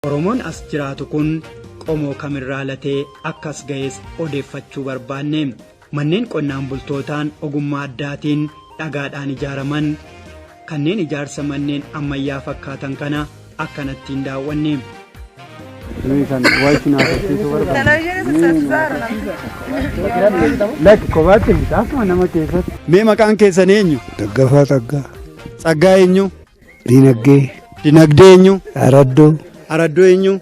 Oromoon as jiraatu kun qomoo kamirraa latee akkas ga'es odeeffachuu barbaanne. Manneen qonnaan bultootaan ogummaa addaatiin dhagaadhaan ijaaraman kanneen ijaarsa manneen ammayyaa fakkaatan kana akkanatti hin daawwanne. Nuyi kan waayiti naaf hojjetu barbaanne. Lakki kophaatti hin taasuma nama keessatti. Mee maqaan keessan eenyu? Daggafaa Tsaggaa. Tsaggaa eenyu? Dinagdee. Dinagdee eenyu? Araddoo. Araddoo eenyu?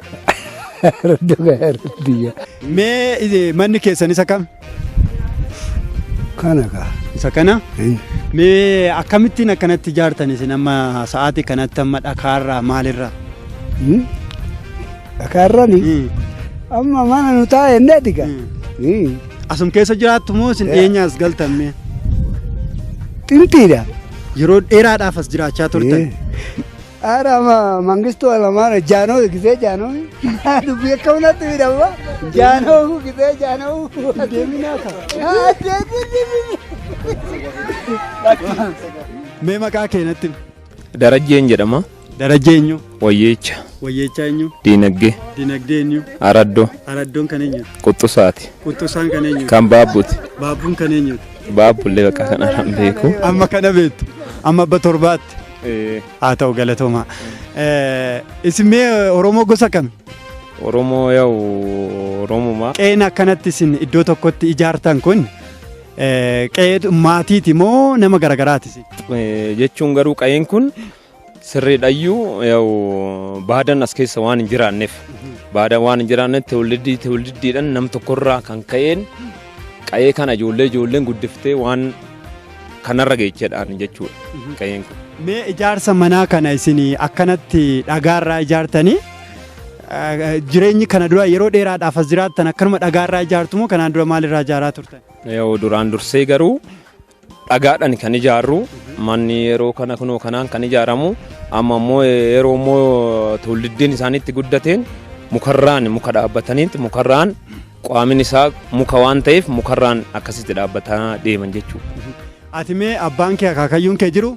Araddoo kan araddiyya. Mee manni keessan isa kam? Kana kaa. Isa kana? Mee akkamittiin akkanatti ijaartan isin amma sa'aatii kanatti amma dhakaarraa maalirraa? Dhakaarrani? Amma mana nu taa'e inni adiga. Asum keessa jiraattu moo isin dhiyeenyaas galtan mee? Xintiidha. Yeroo dheeraadhaaf as jiraachaa turtan. Haadha ma mangistuu alamaara jaanoo gisee jaanoo dubbii akka hunatti midhamma jaanoo gisee jaanoo deeminaa Mee maqaa keenatti. Darajjeen jedhama. Darajjee eenyu? Wayyeecha. Wayyeechaa eenyu? Diinagdee. Dinagdee eenyu? Araddoo. Araddoon kan eenyu? Quxxusaati. Quxxusaan kan eenyu? Kan baabbuti. Baabbuun kan eenyu? Baabbullee bakka kana hin beeku. Amma kana beektu. Amma abba torbaatti. Haa ta'u galatoomaa. Eh, Isin mee eh, Oromoo gosa kami? Oromoo yaa'u Oromumaa. Qe'een akkanatti isin iddoo tokkotti ijaartan kun eh, qe'ee maatiiti moo nama garagaraati isin? Eh, Jechuun garuu qa'een kun Sirriidhayyuu yaa'u baadaan as keessa waan hin jiraanneef baadaan waan hin jiraanneef tewlidii tewlidiidhaan nam tokkorraa kan ka'een qa'ee kana ijoollee ijoolleen guddiftee waan kanarra geechedhaan jechuudha qa'een kun. Mee ijaarsa manaa kana isin akkanatti dhagaarraa ijaartanii eh, jireenyi kana dura yeroo dheeraadhaaf as jiraattan akkanuma dhagaarraa ijaartu moo kanaan dura maalirraa ijaaraa turtan? Yaa'u duraan dursee garuu Dhagaadhan kan ijaarru manni yeroo kana kunoo kanaan kan ijaaramu amma immoo yeroo immoo tuulliddiin isaaniitti guddateen mukarraan muka dhaabbataniitti mukarraan qaamin isaa muka waan ta'eef mukarraan akkasitti dhaabbataa deeman jechuudha. Ati mee abbaan kee akaakayyuun kee jiru?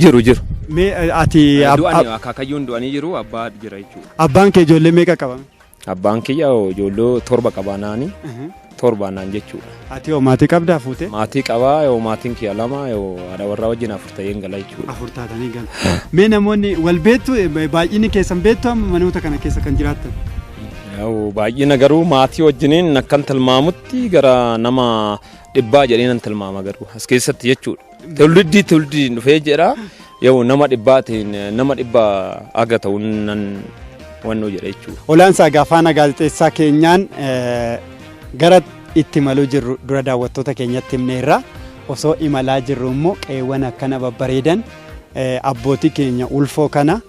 Jiru jiru. Mee eh, ati ab- Du'anii ab- akaakayyuun du'anii jiru abbaa jira jechuudha. abbaan kee ijoollee meeqa qaba? Abbaan kiyya ijoollee torba qaba naani torba naan jechuudha. Ati hoo maatii qabdaa fuute? Maatii qabaa yoo maatiin kiyya lama yoo haadha warraa wajjin afur ta'een gala jechuudha. Afur taatanii galu. Mee namoonni wal beektu baay'inni keessan beektu amma manoota kana keessa kan jiraattan? Yoo Baay'ina garuu maatii wajjiniin akkan tilmaamutti gara nama dhibbaa jedheen nan tilmaama garuu as keessatti jechuudha. Tulliddi tulliddi dhufee jedha. Yoo nama dhibbaatiin nama dhibba aga ta'uun nan wannoo jedha jechuudha. Olaansaa egaa faana gaazexeessaa keenyaan eh, gara itti maluu jirru dura daawwattoota keenyatti himneerra osoo imalaa jirru immoo qeewwan akkana babbareedan eh, abbootii keenya ulfoo kana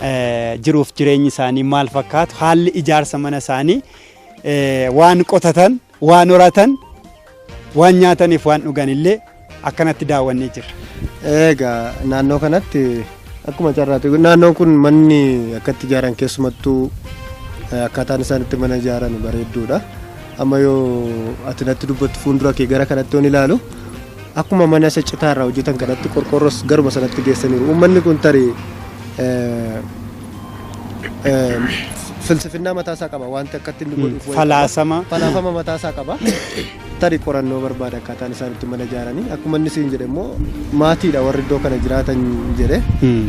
eh, jiruuf jireenyi isaanii maal fakkaatu haalli ijaarsa mana isaanii eh, waan qotatan Waan horatan, waan nyaataniif waan dhugan illee akkanatti daawwannee jirra. Egaa naannoo kanatti akkuma carraati naannoon kun manni akkatti ijaaran keessumattuu eh, akkaataan isaan itti mana ijaaran bareedduudha. Amma yoo ati natti dubbattu fuuldura kee gara kanatti yoon ilaalu Akkuma mana isa citaa irraa hojjetan kanatti qorqoorros garuma sanatti geessaniiru. Uummanni kun tarii filsifinnaa mataa isaa qaba wanti akkatti inni godhuuf wayii qaba. Falaasama. falaasama mataa isaa qaba. Tarii qorannoo barbaada akkaataan isaan itti mana ijaaranii akkuma inni siin jedhe immoo maatiidha warri iddoo kana jiraatan jedhe. Hmm.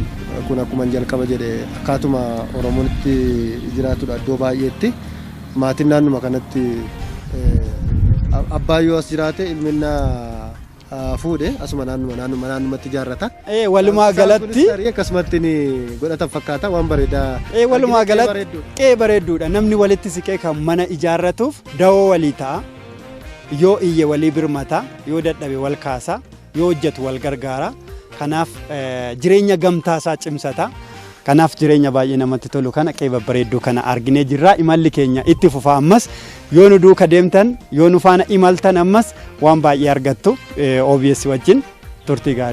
kun akkuma jalqaba jedhe akkaatuma oromoon itti jiraatudha iddoo baay'eetti Maatiin naannuma kanatti abbaan yoo as jiraate ilminna fuudhe asuma naannuma naannuma naannumatti ijaarrata. Ee walumaa galatti akkasumatti ni godhatan fakkaata waan bareedaa. Ee walumaa galatti qe'ee bareedduudha namni walitti siqee kan mana ijaarratuuf dawoo walii ta'a yoo iyye walii birmata yoo dadhabe wal kaasa yoo hojjetu wal gargaara. Kanaaf jireenya gamtaa isaa cimsata. Kanaaf jireenya baay'ee namatti tolu kana qe'ee babbareedduu kana arginee jirra. Imalli keenya itti fufa ammas yoo nu duuka deemtan yoo nu faana imaltan ammas waan baay'ee argattu OBS wajjin turtii gaarii.